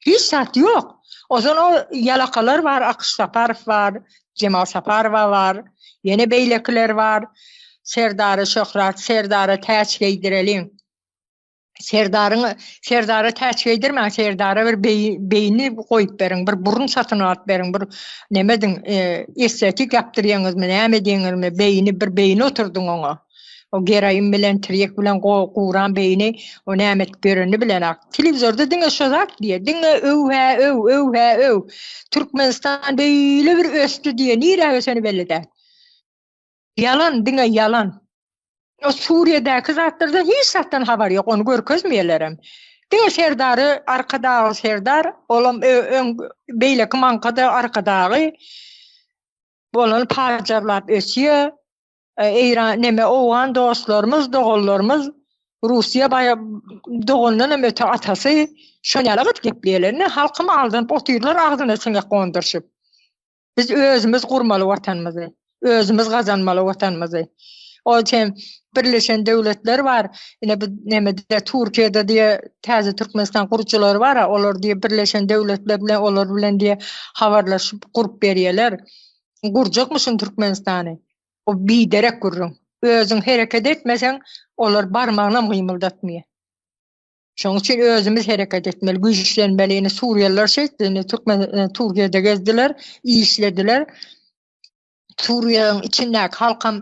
Hiç zat ýok. Ozal o ýalakalar bar, Akyş Saparow bar, Jemal Saparowa bar, ýene beýlekiler bar. Serdara şöhrat, Serdara täç geýdireliň. Serdaryň, Serdara täç geýdirmäň, Serdara bir beýni goýup beriň, bir burun satyn alyp beriň, bir neme ediň, estetik ýapdyrýaňyzmy, näme ediňizmi, beýni, bir beýni oturdyň oňa. O geroin bilen tirýek bilen guran beýni o näme edip ýöreni bilen ak. Telewizorda diňe şo zat diýýär. Diňe öw hä öw, öw hä öw. Türkmenistan beýle bir ösdi diýýär. Nirä öseni belli däl. Ýalan diňe ýalan. O Suriýadäki zatlardan hiç zatdan habar ýok. Ony görkezmeýälerem. Diňe Serdary Arkadagy Serdar olam öň beýleki maňka-da Arkadagy. Bolany pajarlap ösýär. Eýran neme owgan dostlarymyz doganlarymyz Russiýa baý dogandan hem öte atasy şol ýaly gyt gepleýärler indi halkymy aldanyp otyrlar agzyna siňek gondurşyp biz özümiz gurmaly watanymyzy özümiz gazanmaly watanymyzy ol üçin birleşen döwletler bar ine bu nemede Türkiýede diýe täze Türkmenistan gurujylary bar olar diýe birleşen döwletler bilen olar bilen diýe habarlaşyp gurup berýärler gurjakmyşyn Türkmenistany. Bu biderek gürrüň. Özüň hereket etmeseň, olar barmagynam gymyldatmaýar. Şonuň üçin özümiz hereket etmeli, güýçlenmeli. Indi suriýalylar şeýtdi, indi türkmen e, Türkiýede gezdiler, işlediler. Suriýanyň içindäki halkam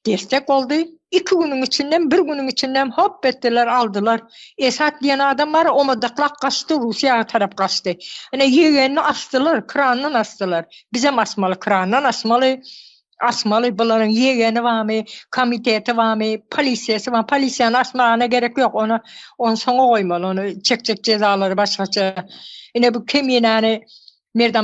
destek boldy. Iki günüň içinden, bir günüň içinden hop etdiler, aldylar. Esat diýen adam bar, omadyklap gaçdy, Russiýa tarap gaçdy. Ine ýegenini asdylar, krandan asdylar. Bizem asmaly krandan asmaly. Asmaly bularyň ýegeni barmy, komiteti barmy, polisiýasy barmy? Polisiýany asmagyna gerek ýok. Ony ony soňa goýmaly. Ony çekjek jezalary başgaça. Ine bu keminäni Merdan